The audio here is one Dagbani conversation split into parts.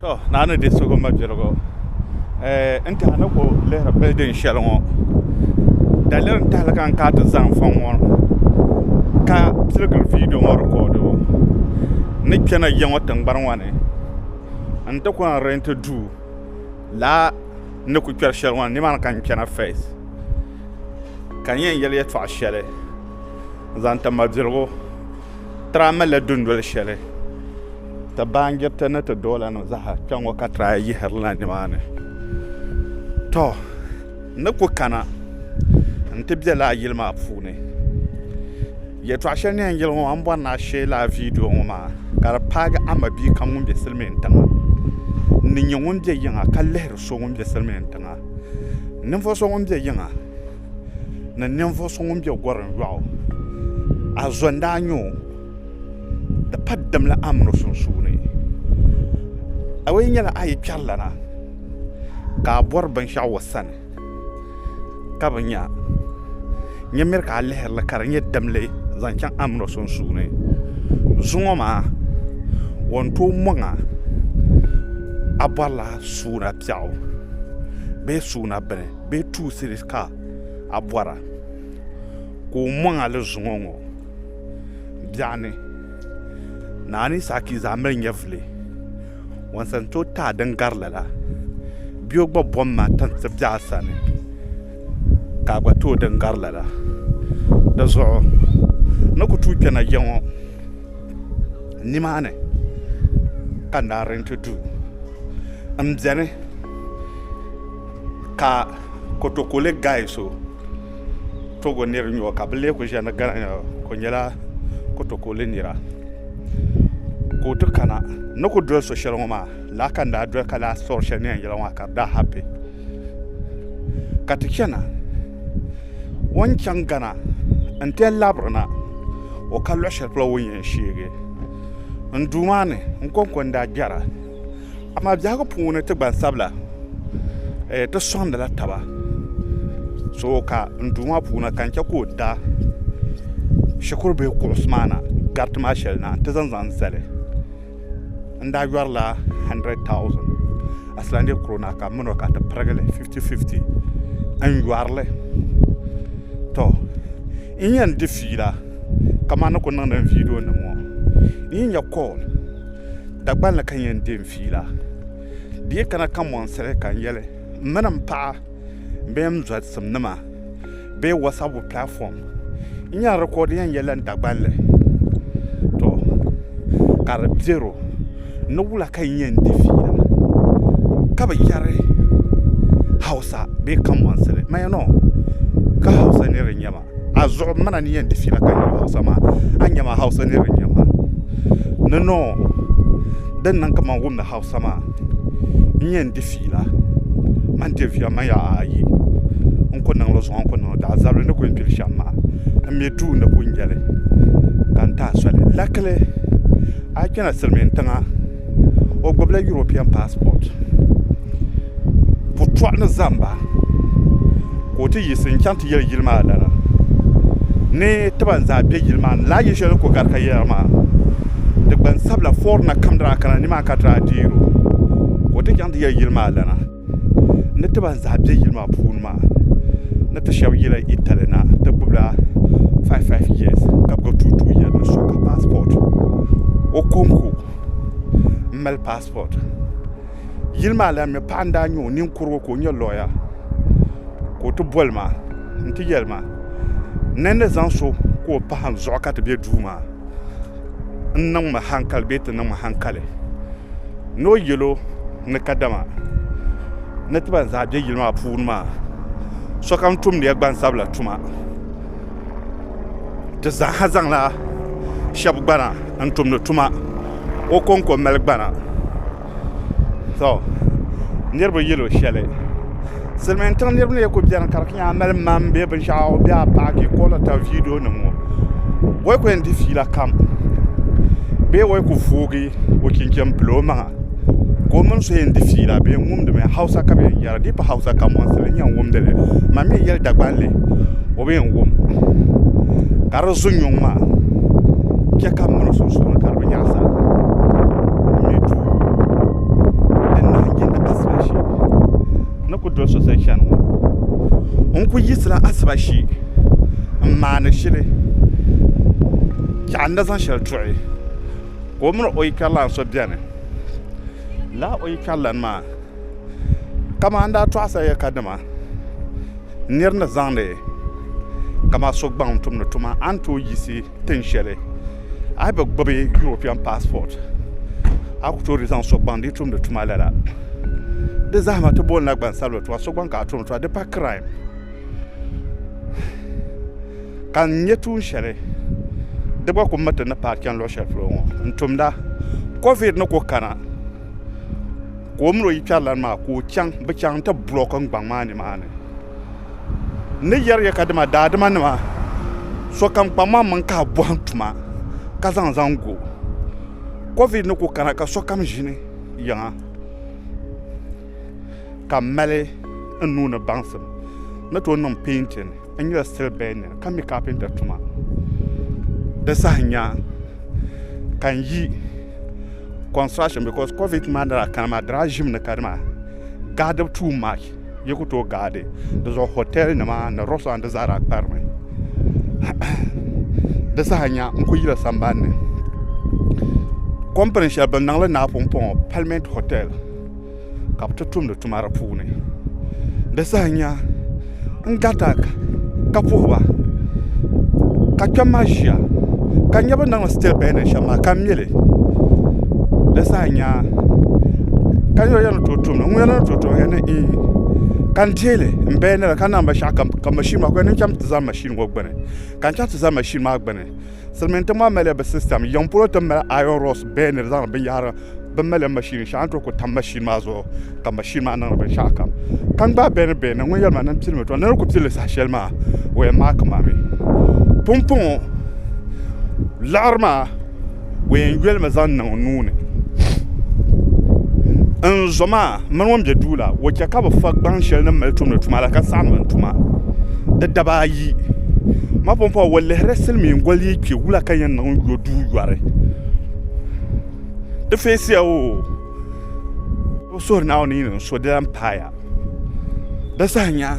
To, naa ni di sugi ma birigu eh, n tihi ni ku lihiri bildin shɛli ŋɔ daliri n tahili ka n ka ti zaŋ fɔŋ ŋɔ ka piligiri viidiyo ŋɔ rikɔdibu ni kpɛna ya ŋɔ tingbani ŋɔ ni n ti ku n rɛnti duu laa ni ku kpɛri shɛli ŋɔ ni nimaani ka n kpɛna fɛs ka n yɛn yɛli yɛtɔɣa shɛli zaŋ ti ma birigu tira malila dundoli shɛli Ti baanjiriti ni ti doolanima zaa kpe ŋɔ ka ti daa yihirila nimaani. Tɔ! N ni ku kana nti be lala yili maa puuni. Yɛtɔɣ shɛli ni yɛn yɛli ŋɔ maa m bɔri ni a shee lala viidiyo ŋɔ maa ka di paagi a mabia kam ŋun be silimiintiŋa. N ni nya ŋun be yiŋa ka lihiri so ŋun be silimiintiŋa. Ninvuɣ so ŋun be yiŋa. ni ninvuɣ so ŋun be gɔrim yɔɣu, a zo n-daa nya o, di pa dimli a mini o sunsuuni. A yi nyɛla a yi kpɛrilana ka a bɔri binshɛɣu o sani ka bi nya, nya miri ka a lihiri li ka di nyɛ dimli zaŋ chaŋ a mini o sunsuuni. Zuŋɔ maa o ni tooi mɔŋ a, a bɔrila suuna biɛɣu bee suuna bini. bee tuusi ka a bɔra ka o mɔŋ a li zuŋɔ ŋɔ biɛɣu ni, naani saakii zaa mali nyɛvili, wɔnsi n-tooi taai din gari lala, bee o gba bɔŋ mi a ti ti biɛɣu sani ka a gba tooi din gari lala. Di zuɣu n ni ku tuui kpe na ya ŋɔ, nimaani ka n daa rɛnti duu m-beni. Ka kotokoli guy so togo niri n nyɔ ka bi lee ku ʒiya ni gana nira ka o nyɛla kotokoli nira ka o ti kana n ni ku doli so shɛli ŋɔ maa lala ka n daa doli ka lahi sɔri shɛli ni yɛn yɛli ŋɔ maa ka di daa hapi ka ti chɛna o ni chaŋ gana n ti yɛn labiri na o ka luɣu shɛli polo o ni yɛn sheegi n Duuma ni n kɔŋko n daa kpɛra Amaa biɛhigu puuni ti gbansabila ti sɔŋdila taba so ka n duu maa puuni ka n chɛ ka o da shikuru bihi kuɣusi maa na gariti maa shɛli na nti zaŋ zaŋ zali n daa yɔrila handirɛd taawusin Aisilandi kurona ka m min o ka ti pirigi li fifti fifti n yɔri li tɔ n yɛn di fiila kamani ni ku niŋdi n viidionima ŋɔ n yi nya kɔɔl Dagbaŋ ni ka n yɛn deei n fiila. Di yi kana ka mɔŋsiri ka n yɛli m mini m paɣa bee m zɔlisimnima bee wasabu platform n yɛn record yɛn yɛli n Dagbanli tɔ ka di bɛro ni wula ka n yɛn de fiila ka bi yɛri Hausa bee kamɔnsili mayɛnɔ ka Hausa niri n-nyɛ ma. azuɣu m mana ni yɛn di fiila ka n yuli hausa maa a ni nya maa hausa nir n-nyɛ ma ni noo din niŋ ka man wumdi hausa maa n-yɛn di fiila man Davia man ya ayi n ku niŋ li zuɣu n-ku niŋ li daa zabili ni ku yɛn kpiri shɛm maa m-mi duu ni ku nyɛli ka n tahi soli lakili a yi kpɛna silimiintiŋa o gbubila yuropiɛn paasipoti putɔɣu ni zamba ka o ti yiɣisi n chaŋ ti yeli yili maa lana ni ti ban zaa be yili maa ni lala yili sheli din kuli gari ka yera maa di gbansabla forina kam daa kana nimaani ka ti daa deeri o ka o ti chaŋ ti yeli yili maa lana. ni ti ban zaa be yili maa puuni maa ni ti shɛba yela Italy na ti gbubila faif faif yeesi ka gbubi tuu tuu yɛda ni so ka paasipɔt o kɔŋko m-mali paasipɔt yili maa lana mi paɣa n-daa nyɛ o ninkurugu ka o nyɛ looya ka o ti boli ma n-ti yɛli ma ni ni zaŋ so ka o pahim zuɣu ka ti be duu maa. n niŋ ma hankali bee ti niŋ ma hankali ni o yɛlo ni kadama ni ti ban zaa bɛ yili maa puuni maa sokam tumdiya gbansabila tuma di zaaha zaŋla shɛba gbana n tumdi tuma o konko mali gbana to niriba yelo sheli Silimiin tiŋ niriba ni kuli biɛni ka di nyɛla mali maŋa bee binshaɣu bee a paagi ka o lahi tam viidiyo nima ŋɔ o yi kuli yen di fiila kam bee o yi kuli voogi o chinchin bila o maŋa ka o mini so yen di fiila bɛ yen wumdi mi hausa ka bɛ yen yera di bi hausa ka mosi n yen wumdi li man mi yeli Dagbani o bi yen wum ka di zunyuŋ maa che ka m miri sunsuuni. o yaɣa zaa n mɛ duu din nahangbee nyɛ asiba shee ni ku doli so soli chɛni ŋɔ n ku yiɣisila asiba shee n maandi shili ka n na zaŋ shɛli tuɣi ka o mini o yili karilan so biɛni laa o yili karilan maa kamani daa tɔɣasila yɛli ka dama nira ni zaŋdi kamani so gbaŋ tumdi tuma a ni tooi yiɣisi tiŋ shɛli a yi bi gbubi European passport a ku tooi di zaŋ sɔgbaŋ di yi tumdi tuma lala di zahama ti bolina gbansabila tuma sɔgbaŋ ka a tumdi tuma di pa crime ka n nyɛ tuun shɛli di gba ku miriti ni paai chɛni luɣ shɛli polo ŋɔ n tumda covid ni ku kana ka o mini o yikpɛrilana maa ka o chaŋ bi chaŋ n ti bulɔki n gbaŋ maa nimaani N ni yɛri ya ka dama daadimanima, sokam kpaŋ ma maŋ ka a bɔhim tuma ka zaŋ zaŋ gu o. Covid ni ku kana ka sokam ʒini yiŋa ka m mali n nuu ni baŋsim ni tooi niŋ painting, n nyɛla steel bender ka mi carpenter tuma. Di saha nya ka n yi construction because covid maa ni daa kana maa di daa ʒimi ni kadama gaadibu too much. Yi ku tooi gaadi di zuɣu hotɛl nima ni rɛstɔrant di zaa daa kparimi di saha nya n-ku yila sambani ni kɔmpini shɛli bɛ niŋ li Naapumpɔŋɔ palimɛnti hotɛl ka bɛ ti tumdi tuma di puuni di saha nya n garita ka puhi ba ka kpɛm maa ʒiya ka nya bɛ ni niŋdi sitɛbɛndin shɛm maa ka m mi li di zaa nyaa ka yo ya ni tooi tum ŋun ya ni tooi tum ya ni iin ka n deei li n baya ni la ka niŋ binshaɣu kam ka mashin maa ka o yɛli ni n chaŋ ti za mashin ŋɔ gbuni ka n chaŋ ti za mashin maa gbuni silmiin tiŋ maa malila bi sistɛm yiŋ polo ti ni mali aayɔn rɔks bɛɛ ni di zaŋdi binyahari bi malila mashin shɛli a ni tooi ku tam mashin maa zuɣu ka mashin maa niŋdi binshaɣu kam ka n gbaai bɛ ni bɛ ni ŋun yɛli maa ni n pili mi tɔ ni di ni ku pilli saha shɛli maa o yɛn maaki ma mi pumpɔŋɔ liɣiri maa O yɛn yolimi zaŋ niŋ n nuu ni n zo maa n mini ŋun bɛ duu la o chɛ ka bi fa gbaŋ shɛli ni n mali tumdi tuma la ka saɣam ma n tuma di dabaa ayi mapumpɔŋɔ o lihirila silmiin goli ni kpɛ wula ka yɛn niŋ n yo duu yɔri di feesiya oo o suhuri naawuni ni n so di lahi paaya di saha nya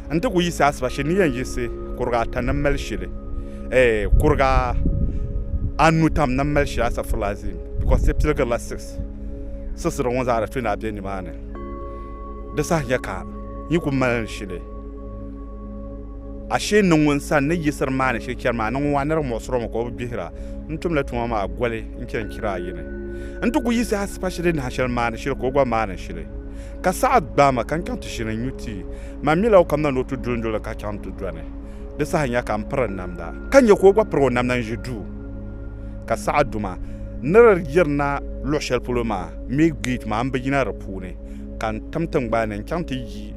N ti ku yiɣisi asiba shee ni yɛn yiɣisi kuriga ata ni mali shili, eh, kuriga anu tam ni mali shili asafurila azim, because di piligirila six. Siɣisira ŋɔ zaa di tooi daa be nimaani. Di saha nya ka n yi ku mali li shili, ashee niŋ ŋun sani ni yiɣisiri maa ni shili chɛri maa ni ŋun wan nirigi muɣisiri o mi ka o bi gbihira. N tumla tuma maa goli n-chani chira ayi ni. N ti ku yiɣisi asiba shee din nahi shɛli maani shili ka o gba maani shili. Ka saha gbaai ma ka n chaŋ ti ʒini n-nyu ti. Man mila o kamina ni o ti duli n-duli ka chaŋ ti dɔni. Di saha nya ka m piri n namda, ka nya ka o gba piri o namda n-ʒi duu. Ka saha duma ni di yirina luɣ shɛli polo maa mi geeti maa, m bi yina di puuni, ka n tim tiŋgbani ni n-chaŋ ti yi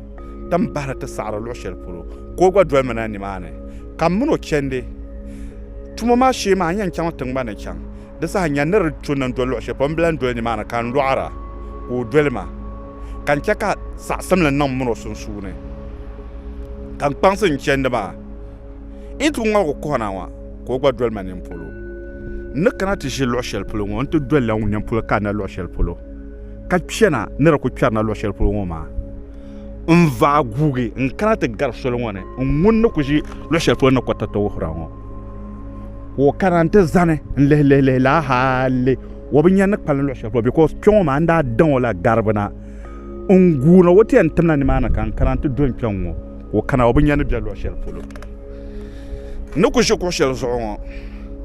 ti m bahiri ti saɣiri luɣ shɛli polo, ka o gba doli mi na nimaani. Ka m min o chɛndi tuma maa shee maa, n yɛn chaŋ tiŋgbani ni chaŋ Di saha nya ni di tu ni n-doli luɣ shɛli polo, m bi lan doli nimaani, ka n lɔɣir a ka o doli ma, ka n chɛ ka saɣisimli niŋ min o sunsuuni, ka n kpaŋsi n chɛndi maa. N yi ti ku ŋmaligu kuhi na ŋɔ, ka o gba doli ma nini polo. N ni kana ti ʒi luɣ shɛli polo ŋɔ, n ti doli la ŋun nini polo ka n na luɣ shɛli polo, ka kpɛna ni di ku kpɛri na luɣ shɛli polo ŋɔ maa. N vaai guugi n-kana ti gari soli ŋɔ ni, n ŋun ni ku ʒi luɣ shɛli polo ni kɔtɔtɔ wuhir a ŋɔ. ka o kana n ti zani n lihi lihi lihi laa hali o bi nya ni kpalim luɣu shɛli polo bikos kpɛ ŋo maa n daa daŋ o la garibu na n guuna o ti yɛn timla nimaani ka n kana n ti do n kpɛŋ ŋo ka o kana o bi nya ni bɛ luɣu shɛli polo n ni ku ʒi kuɣu shɛli zuɣu ŋo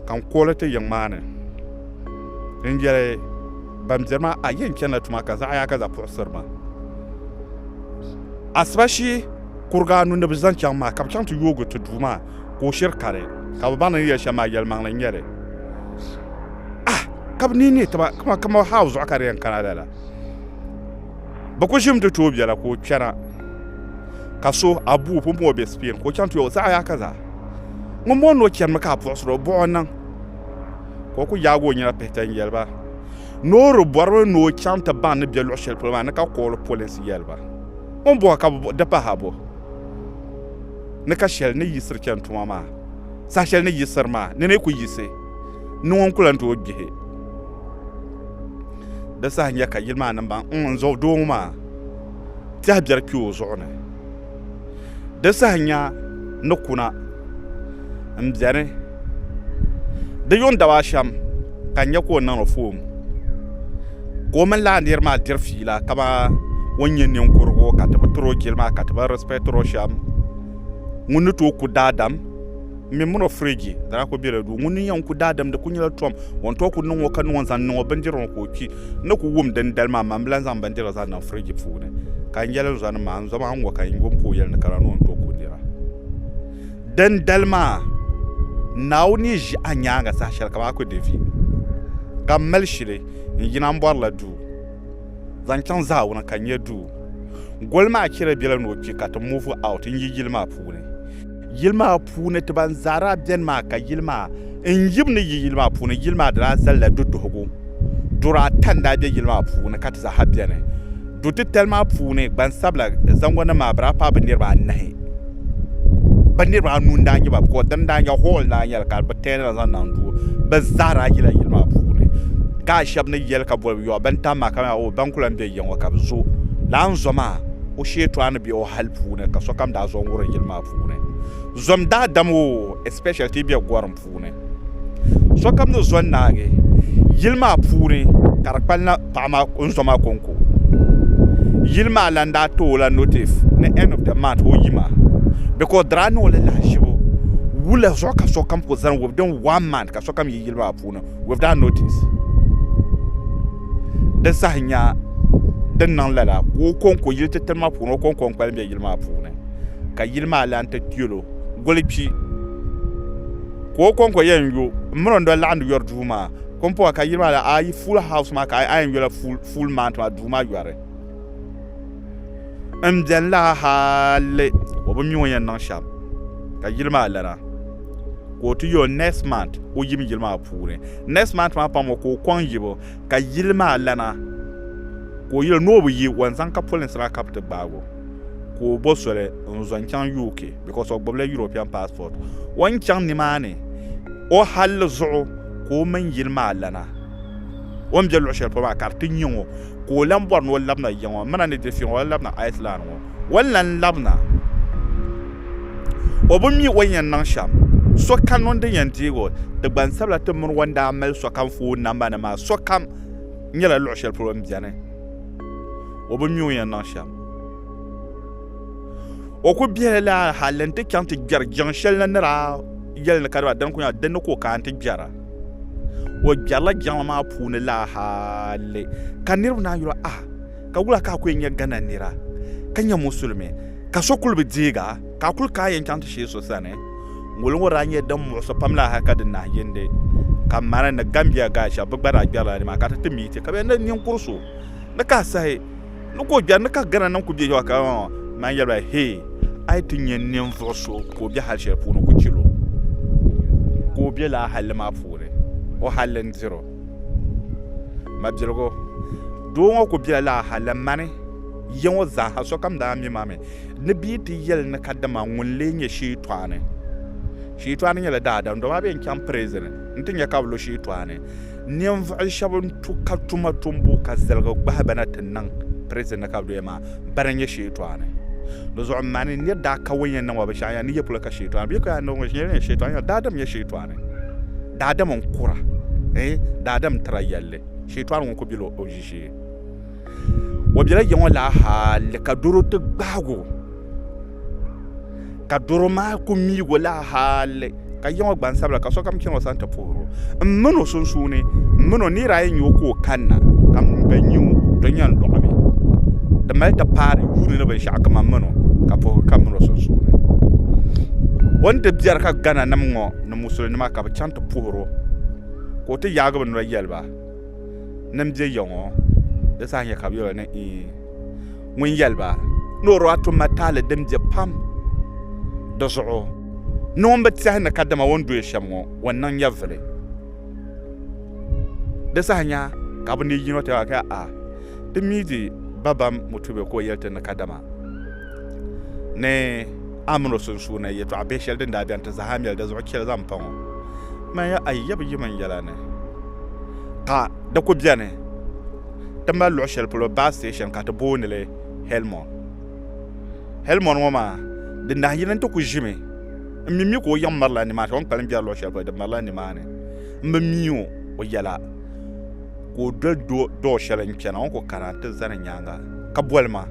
ka n kuɣuli ti yiŋ maa ni n yɛli ban biɛni maa a yɛn chɛnila tuma ka zaɣ yaaka zaɣ puɣusiri ma asiba shee kuriga anu ni bi zaŋ chaŋ maa ka bi chɛŋ ti yoogi ti duu maa ka o shiri kari ka bɛ baŋ ni ni yɛli shɛm maa yɛlimaŋli n-nyɛ li. Ah! Ka bɛ nihi nihi taba kaman kama Haaw zuɣu ka di yɛn kana lala. Bɛ ku ʒimi ti tooi bela ka o kpɛna ka so Abuu pun bɔŋ o be Spain ka o chaŋ ti yɔg o zaɣ yaaka zaa. Ŋun bɔŋ ni o chanimi ka a puɣisiri o buɣ o niŋ ka o ku yaag o nyina pihita n-yɛli ba ni o di bɔrimi ni o chaŋ ti baŋ ni bɛ luɣ shɛli polo maa ni ka kooli polinsi yɛli ba. O ni bɔŋ ka bɛ buɣi di pahi a bo? ni ka shɛli ni yiɣisiri chɛni tuma maa saha shɛli ni yiɣisiri maa ni ni ku yiɣisi ni ŋun ku lan tooi gbihi di saha n-nyɛ ka yili maa niŋbaŋ n n zuɣu doo ŋɔ maa tɛha biɛri kpi o zuɣu ni di saha nya ni kuna n biɛni di yuŋ daba ashɛm ka n nyɛ ka o niŋ o foon ka o mini laa nira maa diri fiila kamani o ni nyɛ ninkurigu ka ti bi tiri o jili maa ka ti bi rɛspɛtiri o shɛm ŋuni ni tooi ku daadam n mini mini o firiji dama ku biɛla duu ŋuni n yɛn ku daadam di ku nyɛla tom o ni tooi ku niŋ o ka niŋ o zaŋ niŋ o bindirigu ni ka o kpi n ni ku wum din dali maa maa n bi lahi zaŋ bindirigu zaŋ niŋ firiji puuni ka n yɛlli zuɣu ni maa n zuɣu maa n ŋɔ ka n yuli ka o yɛli ni kana ni o ni tooi ku nira Dindali maa, Naawuni ni ʒi a nyaaŋa saha shɛli ka bɛ aku Devid, ka m mali shili n-yina m-bɔri la duu zaŋ chaŋ Ziɔn ka nya duu goli maa chɛli bela ni o kpi ka ti move out n-yi yili maa puuni. Yili maa puuni ti ban zaa daa beni maa ka yili maa N yim ni yi yili maa puuni. Yili maa daa zalila duduhigu. Duri ata n-daa be yili maa puuni ka ti zaaha beni. Du titali maa puuni gbansabila zaŋgonim maa bɛ daa paai bɛ niriba anahi. Bɛ niriba anu n-daa nyɛ ba bikos dini n-daa nyɛ hall n-daa nyɛ li ka bɛ teela zaŋ niŋ duu. Bɛ zaa daa yila yili maa puuni. Guys shɛba ni yɛli ka boli yɔɣu bɛn tam maa ka nya oh bɛn kuli lan be ya ŋɔ ka bɛ zo. Lana zo maa o sheetɔɣu ni be o hali puuni ka sokam daa zo n-wurim yili maa puuni. Zom daadam o especially ti yi be gorim puuni sokam ni zo naagi yili maa puuni ka di kpalina paɣa maa o ni zo maa konko yili maa lan daa ti o la notice ni end of the month ka o yima because di daa niŋ o la lahaʒibu wula zuɣu ka sokam kuli zani within one month ka sokam yi yili maa puuni without notice di saha nya din niŋ lala ka o konko yili titali maa puuni o konko n kpalim be yili maa puuni ka yili maa lan ti yɛl o, Guli kpi! Ka o kɔŋko yɛn yo m-miri o ni doli laɣindi yɔri duu maa kɔmpɔha ka yili maa la, a yi Fool House maa ka a yɛn yola Fool Mount maa duu maa yɔri m-beni la hali o bi mi o yɛn niŋ shɛm ka yili maa lana ka o ti yo Next Mount o yim yili maa puuni. Next Mount maa pam o ka o kɔŋ yibu ka yili maa lana ka o yɛl ni o bi yi o n-zaŋ ka polinsi maa ka bɛ ti gbaag o. ka o bo soli n zo n chaŋ UK because o gbubila European passport o ni chaŋ nimaani o halli zuɣu ka o mini yili maa lana o ni be luɣi shɛli polo maa ka di ti nyɛ ŋɔ ka o lan bɔri ni o labina ya ŋɔ mina ni di fiŋ o labina Iceland ŋɔ o ni lan labina o bi mi o ni yɛn niŋ shɛm sokam ŋun din yɛn deeg o ti gbansabila ti mini o ni daa mali sokam foon namba nima maa sokam nyɛla luɣi shɛli polo n beni o bi mi o yɛn niŋ shɛm. O ku biɛli la hali n ti chaŋ ti gbɛri jiŋ shɛli na ni daa yɛli ni ka di ba dini ku nyɛla dinni ka o kaai nti gbɛra. O gbɛrila jiŋli maa puuni la hali ka niriba naan yuli a ka wula ka a ku yɛn nyɛ Ghana nira ka nyɛ musulimi ka so kuli bi deeg a ka a kuli kaai yɛn chaŋ ti sheei so sani. Ŋuli ŋɔ daa nyɛla din muɣisi pam la hali ka di nahiyindi ka Mali ni Gambia gashɛba bɛ gba daa gbɛrila nimaani ka ti ti miiti ka bɛ ni niŋ ninkur so ni ka sahi ni ka o gbɛri ni ka Ghana nim ku bɛ yawa ka man yɛli ba hee a yi ti nyɛ ninvuɣu so ka o bɛ hali shɛli puuni ku chɛl o ka o bɛ laa halli maa puuni o halli n diri o mabiligu doo ŋɔ ku bɛla laa halli mani ya ŋɔ zaaha sokam daa mi ma mi ni bɛ yi ti yɛli ni kadama ŋun lee nyɛ shiitɔɣani shiitɔɣani nyɛla daadam dama a bɛ yɛn chaŋ pirizin n ti nyɛ ka bi lo shiitɔɣani Ninvuɣu shɛba n tu ka tuma tumbu ka ziligi gbahi bɛ na ti niŋ prison ni ka bɛ doya maa bana n-nyɛ Sheetɔani. Dizuɣu m ma ni nir daa ka ŋun yɛn niŋ ma binshɛɣu n-yɛli ni yi polo ka Sheetɔani bɛ yi ka yaa niŋ binshɛɣu n-yɛli ni Sheetɔani n-yɛli daadam n-nyɛ Sheetɔani daadam n-kura eeh daadam n-tira yɛlli Sheetɔani ŋun kuli bela o ʒishee. O bela ya ŋɔ laa hali ka doro ti gbaag o, ka doro maa ku miig o laa hali ka ya ŋɔ gbansabila ka sokam chani o sani ti puhir o. M min o sunsuuni, m min o nir ayi n-nya o ka o kanna, ka m mi bɛ nya o, di nya n-lɔɣi mi. Di mali ti paai di yuuni ni binshɛɣu ka man min o, ka puhigu kam min o sunsuuni. O ni di biɛri ka Ghananim ŋɔ ni Musulinima ka bɛ chaŋ ti puhir o, ka o ti yaagi bɛ noli yɛli ba. ni n bɛ yiŋɔ di saha nyɛ ka bi yɛro ni ii ŋun yɛliba ni o daa tum mataali din bɛ pam di zuɣu ni ŋun bi tiɛhi ni kadama o ni doya shɛm ŋɔ o ni niŋ nyɛvili di saha nya ka bi ni yino ti a ti mi di babam mutube ka o yɛli ti ni kadama ni a min o sunsuuni yɛtɔɣ bihi shɛli din daa beni ti zahi a mɛli di zuɣu chɛli zaŋ pa ŋɔ. Manya a yab yim n yɛla ni ka di ku beni ti mali luɣ shɛli polo baa station ka ti booni li Helmond. Helmond ŋɔ maa di nahi yini nti ku ʒimi n mi mi ka o yiŋ mirila nimaani ka o ni kpalim biɛri luɣ shɛli polo di mirila nimaani m bi mi o o yɛla ka o doli dɔɔ shɛli n chana o ni ku kana ti zani nyaaŋa ka boli ma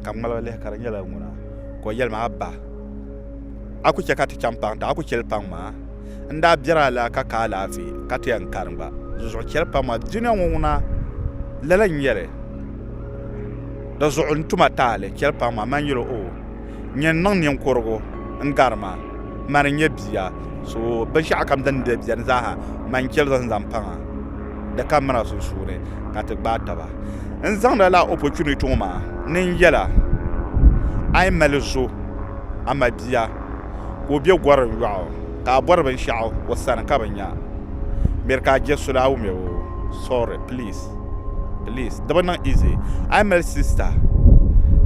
ka ŋmaligi lihi ka di nyɛla ŋuna ka o yɛlima a ba a ku chɛ ka ti chaŋ paŋ ti a ku chɛli paŋ maa n daa biɛri a la ka ka alaafee ka ti yɛn kani gba dinzuɣu chɛli paŋ maa dunia ŋɔ ŋuna lala n-nyɛli dinzuɣu n tuma taali chɛli paŋ maa mani yɛli o nyɛ n-niŋ ninkurigu n-gari ma, mani n-nyɛ bia, so binshɛɣukam din daa beni zaaha ma n-cheli zaŋ zaŋ pa ma, di ka mira sunsuuni ka ti gbaai taba. N zaŋdi a lala opportunity ŋɔ maa ni n yɛl a, a yi mali zo a ma bia ka o be gɔrim yɔɣu ka a bɔri binshɛɣu o sani ka bi nya, miri ka a je suli a wumya o, sorry, please. please di bi niŋ easy a yi mali sista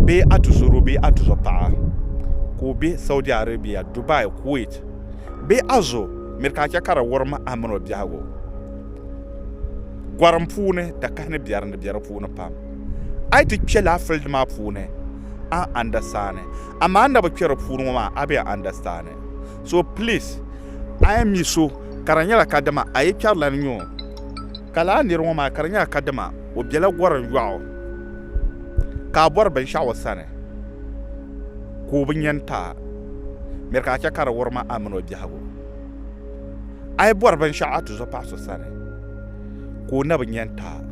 bee a tuzo bee a tuzo paɣa ka o bɛ saudi arabia dubai kuwait bee a zo miri ka a chɛ ka di wurim a mini o biɛhigu gɔrim puuni dakahani biɛri ni bɛ di puuni pam a yi ti kpɛ laa filidi maa puuni a ni andasaani amaa a ni na bi kpɛ di puuni ŋɔ maa a bi yɛn andasaani So please a yi mi so ka di nyɛla kadama a yi kpɛri la ni nyɛ o ka lala niri ŋɔ maa ka di nyɛla kadama o bela gorim yɔɣu ka a bɔri binshɛɣu o sani ka o bi nyɛ n-taai miri ka a chɛ ka di wurim a mini o biɛhigu a yi bɔri binshɛɣu a tuzo paɣa so sani ka o na bi nyɛ n-taai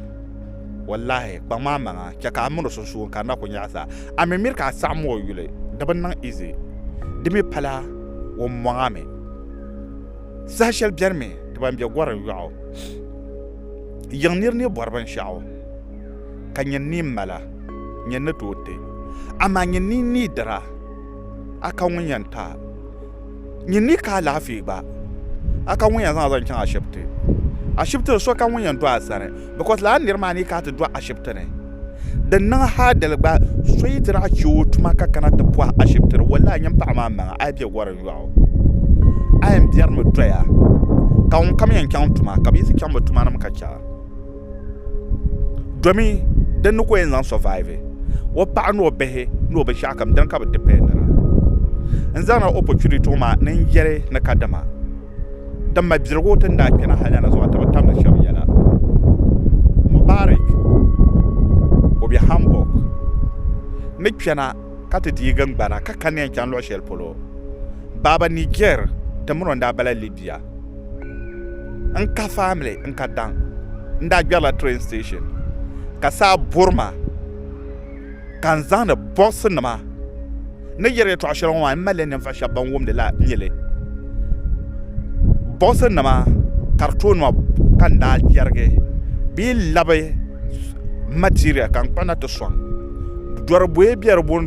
Wallahi, kpaŋ maa maŋa, chɛ ka a mini o sunsuuni ka a na ku nyaɣi sa. A mi miri ka a saɣim o yuli, di bi niŋ izi. Di mi pala wummaŋa mi. Saha shɛli beni mi ti ban be gɔrim yɔɣu yiŋ nir ni bɔri binshɛɣu, ka nyin ni mala, nyin ni tooi ti. Amaa nyin ni needira, a ka ŋun yɛn ti a. Nyin ni ka alaafee gba. A ka ŋun yɛn zaŋ a zaŋ chaŋ ashibiti. Ashibiti ni so ka ŋun yɛn do a sani because lala niri maa ni ka ti do ashibiti ni. Din niŋ haadali gba so yi ti daa che o tuma ka kana ti pɔhi ashibiti ni wallahi nyin paɣa maa maŋa a yi bɛ gɔri yɔɣu a yɛn bɛrimi doya ka ŋun kam yɛn chaŋ tuma ka bɛ yi ti chaŋ bɛ tumanim ka che a. domi din ni ko yɛn zaŋ survive o paɣa ni o bihi ni o binshɛɣu kam dini ka bi dependira n zaŋla opportunity ŋɔ maa ni n yɛli ni kadama din mabirigu ti ni daa kpɛna hali ni anazuwa ti bi tamdi shɛba yɛla Mubarik o be Hamburg ni kpɛna ka ti deei gingbana ka kani yɛn chaŋ luɣ shɛli polo baaba Niger tiŋ mi ni o ni daa bala Libya pia n ka family n ka daŋ n daa gbɛrila train station ka saa buri ma ka n zaŋdi bɔɣisi nima ni yɛri yɛtɔɣa shɛli ŋɔ maa n malila ninvuɣ shɛba ban wumdi la nyɛli bɔɣisi nima ka di tooi nima ka n daa yɛrigi bee labi material ka n kpuɣi na ti sɔŋ dɔri buyi be di puuni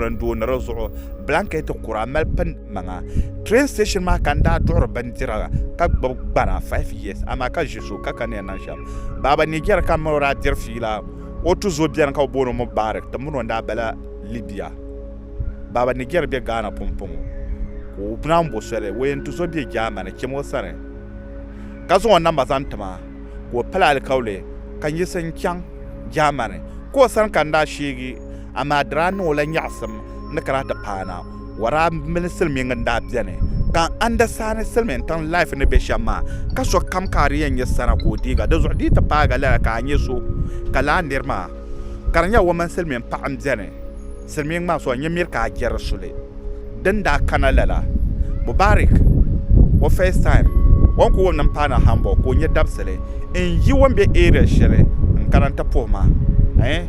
n doo ni di zuɣu blanket kura m mali pini maŋa train station maa ka n daa duɣiri bindira ka gbubi gbana five years amaa ka ʒi zuɣu ka ka ni yɛn niŋ shɛm baaba Nijɛri ka mini o daa diri fiila o tuzo beni ka bɛ booni o Mubarak ti mini o n-daa bala Libya baaba Nijɛri be Ghana pumpɔŋɔ ka o naan bo soli o yɛn tuzo be Germany chim o sani ka zaŋ o namba zaŋ ti ma ka o pili alikauli ka n yiɣisi n-chaŋ Germany ka o sani ka n daa sheegi Amaa di daa niŋ o la nyaɣisim ni ka daa ti paana. Waraa mini silimiŋ n-daa beni, ka Andasani silimiŋtiŋ life ni be shem maa, ka sokam ka a di yen nye sana ka o deega. Di zuɣu di yi ti paagi lala ka a nye so, ka laa niri maa ka di nyela o mini silimiŋ paɣa m-beni, silimiŋ maa so n-nye miri ka a je di suli. din daa kana lala, Mubarak o first time o ni ku wum ni m-paana Hamburg ka o nya dabisili n-yi o ni be area shɛli n-kana nti puhi ma eh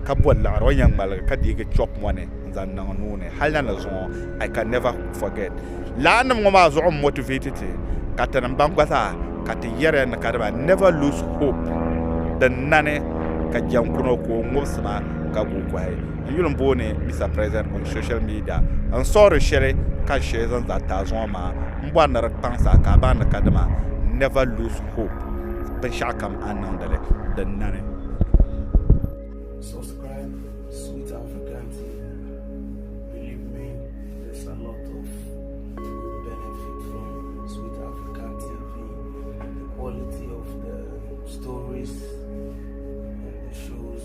ka boli liɣiri o ni yɛn ŋmaligi ka deegi chop mɔni n-zaŋ niŋ n nuu ni hali na ni zuŋɔ I can never forget laannim ŋɔ maa zuɣu m-motivate ti ka ti ni baŋ gba zaa ka ti yɛriya ni ka di ba never lose hope din nani ka jɛnkuno ka o ŋubisi ma ka guui kɔhi n yuli n booni Mister President on social media n suɣiri shɛli ka n shee zaŋ zaa taai zuŋɔ maa m bɔri ni di kpaŋ sa ka a baŋ ni kadama never lose hope binshɛɣu kam a ni niŋdi li din nani. Subscribe Sweet African TV. Believe me, there's a lot of you could benefit from Sweet African TV. The quality of the stories and the shows